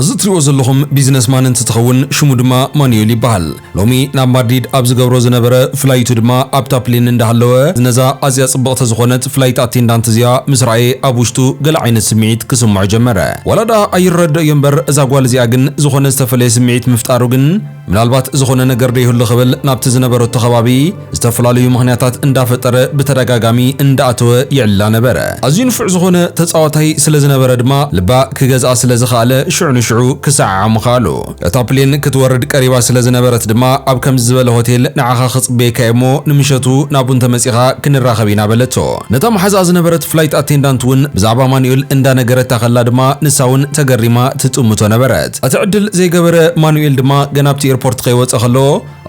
እዚ እትሪእዎ ዘለኹም ቢዝነስ ማን እንትትኸውን ሽሙ ድማ ማኑኤል ይበሃል። ሎሚ ናብ ማድሪድ ኣብ ዝገብሮ ዝነበረ ፍላይቱ ድማ ኣብታ ፕሌን እንዳሃለወ ነዛ ኣዝያ ጽብቕቲ ዝኾነት ፍላይት ኣቴንዳንት እዚኣ ምስ ረኣየ ኣብ ውሽጡ ገለ ዓይነት ስምዒት ክስምዖ ጀመረ። ዋላ ደኣ ኣይረደኦዮ እምበር እዛ ጓል እዚኣ ግን ዝኾነ ዝተፈለየ ስምዒት ምፍጣሩ ግን ምናልባት ዝኾነ ነገር ዶ ይህሉ ክብል ናብቲ ዝነበረቶ ከባቢ ዝተፈላለዩ ምኽንያታት እንዳፈጠረ ብተደጋጋሚ እንዳኣተወ ይዕላ ነበረ። ኣዝዩ ንፉዕ ዝኾነ ተጻዋታይ ስለ ዝነበረ ድማ ልባ ክገዝኣ ስለ ዝኸኣለ ሽዑ ንሽዑ ክሰዓዓ ምኸኣሉ። እታ ፕሌን ክትወርድ ቀሪባ ስለ ዝነበረት ድማ ኣብ ከምዚ ዝበለ ሆቴል ንዓኻ ክጽበየካ እየ እሞ ንምሸቱ ናብኡ እንተመጺኻ ክንራኸብ ኢና በለቶ። ነታ መሓዝኣ ዝነበረት ፍላይት ኣቴንዳንት እውን ብዛዕባ ኣማኑኤል እንዳነገረታ ከላ ድማ ንሳ እውን ተገሪማ ትጥምቶ ነበረት። እቲ ዕድል ዘይገበረ ማኑኤል ድማ ገና ኣብቲ ኤርፖርት ከይወጸ ከሎ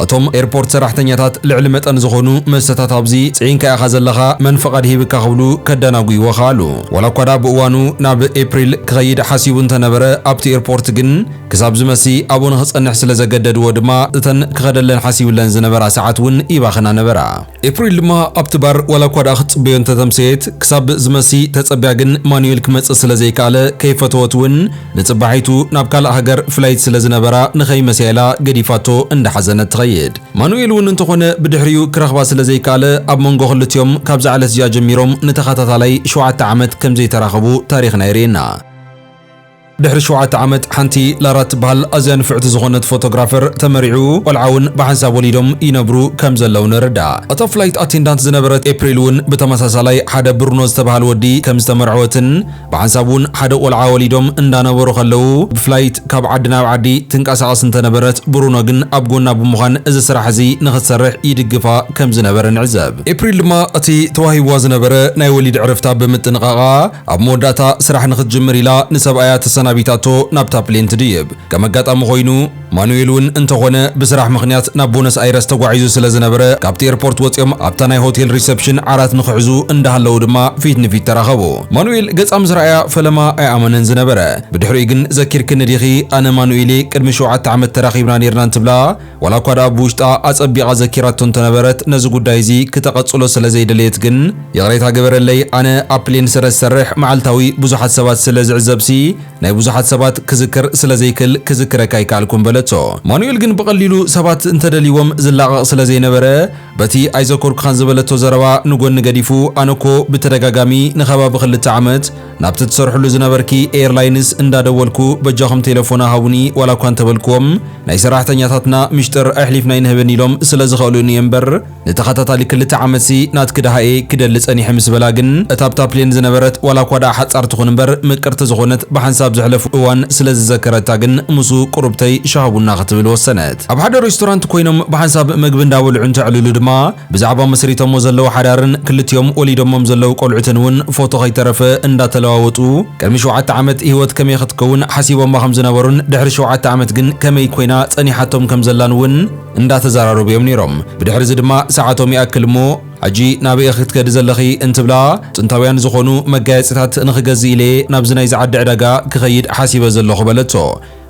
እቶም ኤርፖርት ሰራሕተኛታት ልዕሊ መጠን ዝኾኑ መስተታት ኣብዚ ጽዒንካ ኢኻ ዘለኻ መን ፍቓድ ሂብካ ክብሉ ከዳናጉይዎ ከኣሉ። ዋላ እኳ ድኣ ብእዋኑ ናብ ኤፕሪል ክኸይድ ሓሲቡ እንተነበረ ኣብቲ ኤርፖርት ግን ክሳብ ዝመሲ ኣብኡ ንኽጸንሕ ስለዘገደድዎ ድማ እተን ክኸደለን ሓሲብለን ዝነበራ ሰዓት እውን ይባኽና ነበራ። ኤፕሪል ድማ ኣብቲ ባር ዋላኳ ደኣ ክትጽበዮ እንተተምሰየት ክሳብ ዝመሲ ተጸብያ ግን ማኑኤል ክመጽእ ስለዘይከኣለ ከይፈተወት ውን ንጽባሒቱ ናብ ካልእ ሃገር ፍላይት ስለዝነበራ ንኸይመሲያ ኢላ ገዲፋቶ እንዳሓዘነት ትኸይድ። ማኑኤል ውን እንተኾነ ብድሕሪኡ ክረኽባ ስለዘይከኣለ ኣብ መንጎ ክልቲኦም ካብዛ ዕለት እዚኣ ጀሚሮም ንተኸታታላይ ሸውዓተ ዓመት ከምዘይተራኸቡ ታሪኽና የርእየና። ድሕሪ ሸውዓተ ዓመት ሓንቲ ላራ እትበሃል ኣዝያ ንፍዕቲ ዝኾነት ፎቶግራፈር ተመርዒዑ ቆልዓ እውን ብሓንሳብ ወሊዶም ይነብሩ ከም ዘለዉ ንርዳእ። እታ ፍላይት ኣቴንዳንት ዝነበረት ኤፕሪል እውን ብተመሳሳላይ ሓደ ብሩኖ ዝተበሃል ወዲ ከም ዝተመርዐወትን ብሓንሳብ እውን ሓደ ቆልዓ ወሊዶም እንዳነበሩ ከለዉ ብፍላይት ካብ ዓዲ ናብ ዓዲ ትንቀሳቐስ እንተነበረት ብሩኖ ግን ኣብ ጎና ብምዃን እዚ ስራሕ እዚ ንኽትሰርሕ ይድግፋ ከም ዝነበረ ንዕዘብ። ኤፕሪል ድማ እቲ ተዋሂብዋ ዝነበረ ናይ ወሊድ ዕረፍታ ብምጥንቓቓ ኣብ መወዳእታ ስራሕ ንኽትጅምር ኢላ ንሰብኣያ ተሰናቢታቶ ናብታ ፕሌን ትድይብ። ከም ኣጋጣሚ ኾይኑ ማኑኤል እውን እንተኾነ ብስራሕ ምኽንያት ናብ ቦነስ ኣይረስ ተጓዒዙ ስለ ዝነበረ ካብቲ ኤርፖርት ወፂኦም ኣብታ ናይ ሆቴል ሪሰፕሽን ዓራት ንኽሕዙ እንዳሃለዉ ድማ ፊት ንፊት ተራኸቡ። ማኑኤል ገፃ ምስ ረኣያ ፈለማ ኣይኣመነን ዝነበረ። ብድሕሪኡ ግን ዘኪርክኒ ዲኺ ኣነ ማኑኤል'የ ቅድሚ ሸውዓተ ዓመት ተራኺብና ኔርና እንትብላ፣ ዋላኳ ድኣ ብውሽጣ ኣጸቢቓ ዘኪራቶ እንተነበረት ነዚ ጉዳይ እዚ ክተቐጽሎ ስለዘይደለየት ግን ይቕሬታ ግበረለይ ኣነ ኣብ ፕሌን ስለዝሰርሕ መዓልታዊ ብዙሓት ሰባት ስለዝዕዘብሲ ናይ ብዙሓት ሰባት ክዝክር ስለዘይክል ክዝክረኪ ኣይከኣልኩን በለቶ። ማኑኤል ግን ብቐሊሉ ሰባት እንተደልይዎም ዝላቐቕ ስለዘይነበረ በቲ ኣይዘከርኩኻን ዝበለቶ ዘረባ ንጎኒ ገዲፉ ኣነኮ ብተደጋጋሚ ንከባቢ ክልተ ዓመት ናብቲ ትሰርሕሉ ዝነበርኪ ኤርላይንስ እንዳደወልኩ በጃኹም ቴለፎና ሃቡኒ ዋላ እኳ እንተበልክዎም ናይ ሰራሕተኛታትና ሚሽጥር ኣሕሊፍና ኣይንህብን ኢሎም ስለ ዝኸእሉኒ እየ እምበር ንተኸታታሊ ክልተ ዓመትሲ ናትኪ ደሃ እየ ክደሊ ጸኒሐ ምስ በላ ግን እታ ኣብታ ፕሌን ዝነበረት ዋላ እኳ ደኣ ሓጻር ትኹን እምበር ምቅርቲ ዝኾነት ብሓንሳብ ዘሕለፉ እዋን ስለ ዝዘከረታ ግን ምስኡ ቁሩብተይ ሻህ ቡና ክትብል ወሰነት። ኣብ ሓደ ሬስቶራንት ኮይኖም ብሓንሳብ መግቢ እንዳበልዑ እንተዕልሉ ድማ ብዛዕባ መስሪቶሞ ዘለዉ ሓዳርን ክልቲኦም ወሊዶሞም ዘለዉ ቆልዑትን እውን ፎቶ ከይተረፈ እንዳተለዋወጡ ቅድሚ ሸውዓተ ዓመት ሂወት ከመይ ክትከውን ሓሲቦማ ከም ዝነበሩን ድሕሪ ሸውዓተ ዓመት ግን ከመይ ኮይና ጸኒሓቶም ከም ዘላን እውን እንዳተዘራረቡ እዮም ነይሮም። ብድሕሪ እዚ ድማ ሰዓቶም ይኣክል እሞ ሕጂ ናበይ ኢኺ ክትከዲ ዘለኺ እንትብላ ጥንታውያን ዝኾኑ መጋየጺታት ንኽገዝእ ኢለ'የ ናብዚ ናይዚ ዓዲ ዕዳጋ ክኸይድ ሓሲበ ዘለኹ በለቶ።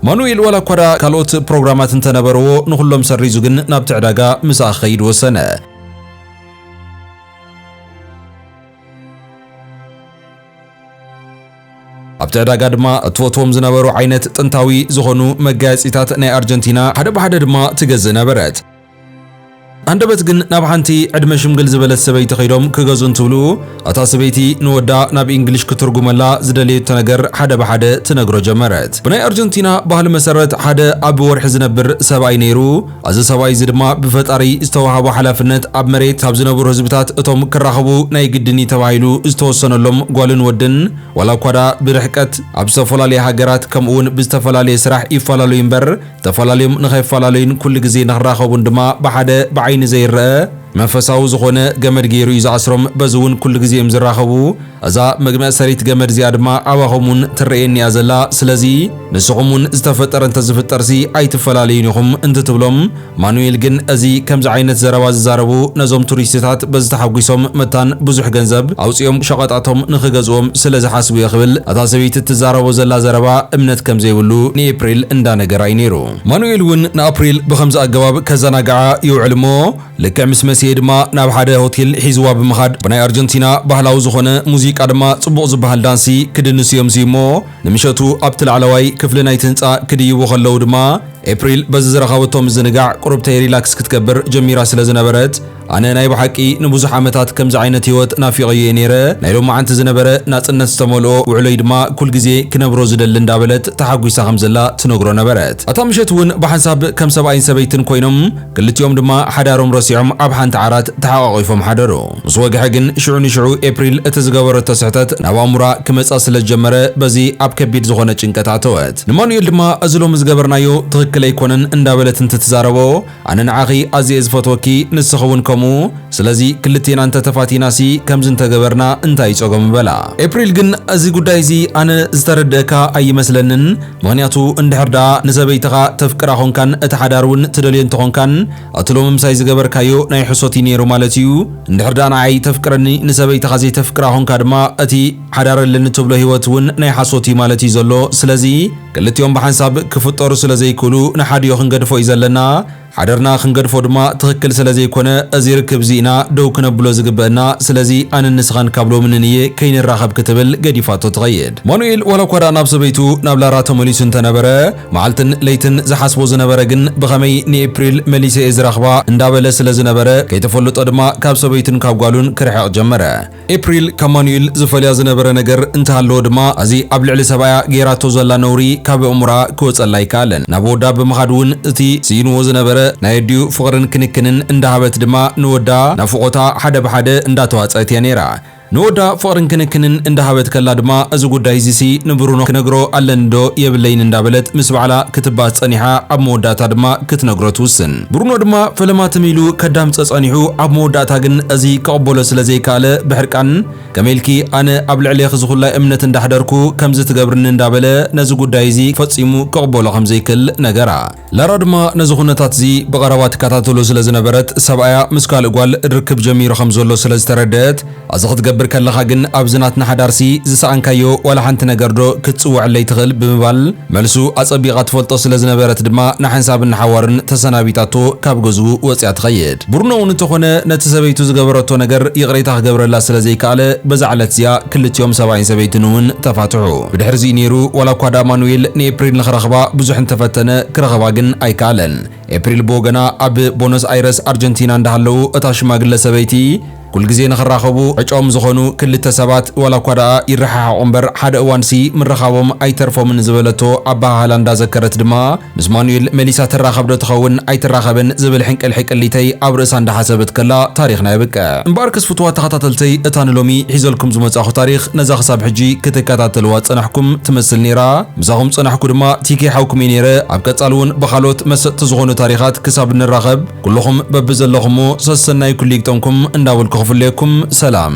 ማኑኤል ዋላኳ ደኣ ካልኦት ፕሮግራማት እንተነበረዎ ንኹሎም ሰሪዙ ግን ናብቲ ዕዳጋ ምሳኣ ክኸይድ ወሰነ። ኣብቲ ዕዳጋ ድማ እትፈትዎም ዝነበሩ ዓይነት ጥንታዊ ዝኾኑ መጋየጺታት ናይ ኣርጀንቲና ሓደ ብሓደ ድማ ትገዝእ ነበረት። ኣንደበት ግን ናብ ሓንቲ ዕድመ ሽምግል ዝበለት ሰበይቲ ከይዶም ክገዝኡ እንትብሉ እታ ሰበይቲ ንወዳ ናብ ኢንግሊሽ ክትርጉመላ ዝደለየቶ ነገር ሓደ ብሓደ ትነግሮ ጀመረት። ብናይ ኣርጀንቲና ባህሊ መሰረት ሓደ ኣብ ወርሒ ዝነብር ሰብኣይ ነይሩ። እዚ ሰብኣይ እዚ ድማ ብፈጣሪ ዝተወሃቦ ሓላፍነት ኣብ መሬት ካብ ዝነብሩ ህዝብታት እቶም ክራኸቡ ናይ ግድን እዩ ተባሂሉ ዝተወሰነሎም ጓልን ወድን ዋላ እኳ ድኣ ብርሕቀት ኣብ ዝተፈላለየ ሃገራት ከምኡ'ውን ብዝተፈላለየ ስራሕ ይፈላለዩ እምበር ተፈላለዮም ንኸይፈላለዩን ኩሉ ግዜ ንኽራኸቡን ድማ ብሓደ ብዓይኒ ዘይረኣ መንፈሳዊ ዝኾነ ገመድ ገይሩ እዩ ዝኣስሮም። በዚ እውን ኩሉ ግዜ እዮም ዝራኸቡ። እዛ መግመእሰሪት ገመድ እዚኣ ድማ ኣባኹም እውን ትረኣየኒ እያ ዘላ። ስለዚ ንስኹም እውን ዝተፈጠረ እንተዝፍጠርሲ ኣይትፈላለዩን ኢኹም እንትትብሎም፣ ማኑኤል ግን እዚ ከምዚ ዓይነት ዘረባ ዝዛረቡ ነዞም ቱሪስትታት በዚ ተሓጒሶም መታን ብዙሕ ገንዘብ ኣውጺኦም ሸቐጣቶም ንኽገዝኡዎም ስለ ዝሓስቡ'የ ክብል እታ ሰበይቲ እትዛረቦ ዘላ ዘረባ እምነት ከም ዘይብሉ ንኤፕሪል እንዳ ነገራ'ዩ ነይሩ። ማኑኤል እውን ንኣፕሪል ብኸምዚ ኣገባብ ከዘናግዓ ይውዕል እሞ ልክዕ ምስ መሰየ ድማ ናብ ሓደ ሆቴል ሒዙዋ ብምኻድ ብናይ ኣርጀንቲና ባህላዊ ዝኾነ ሙዚቃ ድማ ጽቡቕ ዝበሃል ዳንሲ ክድንሱ እዮም ዝዩሞ ንምሸቱ ኣብቲ ላዕለዋይ ክፍሊ ናይቲ ህንጻ ክድይቡ ከለዉ ድማ ኤፕሪል በዚ ዝረኸበቶ ምዝንጋዕ ቁሩብ ተይ ሪላክስ ክትገብር ጀሚራ ስለ ዝነበረት ኣነ ናይ ብሓቂ ንብዙሕ ዓመታት ከምዚ ዓይነት ህይወት ናፊቐዮ እየ ነይረ፣ ናይ ሎማዓንቲ ዝነበረ ናጽነት ዝተመልኦ ውዕሎይ ድማ ኩል ግዜ ክነብሮ ዝደሊ እንዳበለት ተሓጒሳ ከም ዘላ ትነግሮ ነበረት። ኣታ ምሸት እውን ብሓንሳብ ከም ሰብኣይን ሰበይትን ኮይኖም ክልቲኦም ድማ ሓዳሮም ረሲዖም ኣብ ሓንቲ ዓራት ተሓቛቒፎም ሓደሩ። ምስ ወግሐ ግን ሽዑ ንሽዑ ኤፕሪል እቲ ዝገበረቶ ስሕተት ናብ ኣእምሮኣ ክመጻ ስለ ዝጀመረ በዚ ኣብ ከቢድ ዝኾነ ጭንቀት ኣተወት። ንማኑኤል ድማ እዚ ሎሚ ዝገበርናዮ ትኽክል ኣይኮነን እንዳበለት እንትትዛረቦ፣ ኣነ ንዓኺ ኣዝየ እየ ዝፈትወኪ ንስኺ ውን ከምኡ ስለዚ ክልቴና እንተ ተፋቲናሲ ከምዚ እንተ ገበርና እንታይ እዩ ጸገሙ በላ። ኤፕሪል ግን እዚ ጉዳይ እዚ ኣነ ዝተረደእካ ኣይመስለንን ምኽንያቱ እንድሕር ደኣ ንሰበይትኻ ተፍቅራ ኮንካን እቲ ሓዳር ውን ትደልዮ እንተ ኾንካን እቲ ሎሚ ምሳይ ዝገበርካዮ ናይ ሕሶት እዩ ኔሩ ማለት እዩ እንድሕር ደኣ ንዓይ ተፍቅረኒ ንሰበይትኻ ዘይተፍቅራ ኮንካ ድማ እቲ ሓዳር ኣለኒ ትብሎ ሂወት ውን ናይ ሓሶት እዩ ማለት እዩ ዘሎ ስለዚ ክልቲኦም ብሓንሳብ ክፍጠሩ ስለ ዘይክእሉ ንሓዲኡ ክንገድፎ እዩ ዘለና። ሓደርና ክንገድፎ ድማ ትኽክል ስለ ዘይኮነ እዚ ርክብ እዚ ኢና ደው ክነብሎ ዝግበእና። ስለዚ ኣነን ንስኻን ካብ ሎሚ ንንየ ከይንራኸብ ክትብል ገዲፋቶ ትኸይድ። ማኑኤል ዋላ እኳ ደኣ ናብ ሰበይቱ ናብ ላራ ተመሊሱ እንተ ነበረ መዓልትን ለይትን ዝሓስቦ ዝነበረ ግን ብኸመይ ንኤፕሪል መሊሰ እየ ዝረኽባ እንዳበለ ስለ ዝነበረ ከይተፈልጦ ድማ ካብ ሰበይቱን ካብ ጓሉን ክርሕቕ ጀመረ። ኤፕሪል ካብ ማኑኤል ዝፈልያ ዝነበረ ነገር እንተሃለወ ድማ ኣዚ ኣብ ልዕሊ ሰብኣያ ጌራቶ ዘላ ነውሪ ካብ ኣእሙራ ክወጸላ ኣይከኣለን። ናብ ወዳ ብምኻድ ውን እቲ ስኢንዎ ዝነበረ ናይ ኣዲኡ ፍቕርን ክንክንን እንዳሃበት ድማ ንወዳ ናፍቖታ ሓደ ብሓደ እንዳተዋጸኣት እያ ኔራ። ንወዳ ፍቕርን ክንክንን እንዳሃበት ከላ ድማ እዚ ጉዳይ እዚሲ ንብሩኖ ክነግሮ ኣለኒ ዶ የብለይን እንዳበለት ምስ ባዕላ ክትባህ ጸኒሓ ኣብ መወዳእታ ድማ ክትነግሮ ትውስን። ብሩኖ ድማ ፈለማ ትም ኢሉ ከዳምጸ ጸኒሑ ኣብ መወዳእታ ግን እዚ ክቕበሎ ስለ ዘይከኣለ ብሕርቃን ከመይ ኢልኪ ኣነ ኣብ ልዕሌኺ ዝኹላይ እምነት እንዳሕደርኩ ከምዚ ትገብርኒ እንዳበለ ነዚ ጉዳይ እዚ ፈጺሙ ክቕበሎ ከም ዘይክል ነገራ። ላራ ድማ ነዚ ኩነታት እዚ ብቐረባ ትከታተሎ ስለ ዝነበረት ሰብኣያ ምስ ካልእ ጓል ርክብ ጀሚሩ ከም ዘሎ ስለ ዝተረደኣት ኣዚ ክትገብር ከለኻ ግን ኣብዚ ናትና ሓዳርሲ ዝሰኣንካዮ ዋላ ሓንቲ ነገር ዶ ክትጽውዐለይ ትኽእል ብምባል መልሱ ኣጸቢቓ ትፈልጦ ስለ ዝነበረት ድማ ንሓንሳብን ንሓዋሩን ተሰናቢታቶ ካብ ገዝኡ ወጽያ ትኸይድ። ብሩኖ ውን እንተኾነ ነቲ ሰበይቱ ዝገበረቶ ነገር ይቕሬታ ክገብረላ ስለ ዘይከኣለ በዛ ዕለት እዚኣ ክልቲኦም ሰብኣይን ሰበይትን ውን ተፋትሑ። ብድሕርዚ እዩ ኔሩ ዋላ እኳ ድኣ ማኑዌል ንኤፕሪል ንኽረኽባ ብዙሕ እንተፈተነ ክረኽባ ግን ኣይከኣለን። ኤፕሪል ብወገና ኣብ ቦነስ ኣይረስ ኣርጀንቲና እንዳሃለዉ እታ ሽማግለ ሰበይቲ ኩልግዜ ንኽራኸቡ ዕጭኦም ዝኾኑ ክልተ ሰባት ዋላ እኳ ደኣ ይረሓሓቑ እምበር ሓደ እዋንሲ ምርኻቦም ኣይተርፎምን ዝበለቶ ኣበሃህላ እንዳዘከረት ድማ ምስ ማኑኤል መሊሳ ትራኸብዶ ትኸውን ኣይትራኸብን ዝብል ሕንቅልሒ ቅሊተይ ኣብ ርእሳ እንዳሓሰበት ከላ ታሪኽና የብቅዕ። እምበኣር ክስ ፍቱዋት ተኸታተልተይ እታ ንሎሚ ሒዘልኩም ዝመጻኹ ታሪኽ ነዛ ክሳብ ሕጂ ክትከታተልዋ ዝጸናሕኩም ትመስል ኔራ። ምሳኹም ጸናሕኩ ድማ ቲኬ ሓውኩም እየ ነይረ። ኣብ ቀጻሊ ውን ብኻልኦት መሰጥቲ ዝኾኑ ታሪኻት ክሳብ ንራኸብ ኩሉኹም በብዘለኹሞ ሰሰናዩ ኩሉ ይግጠምኩም እንዳበልኩ ክፍለየኩም ሰላም።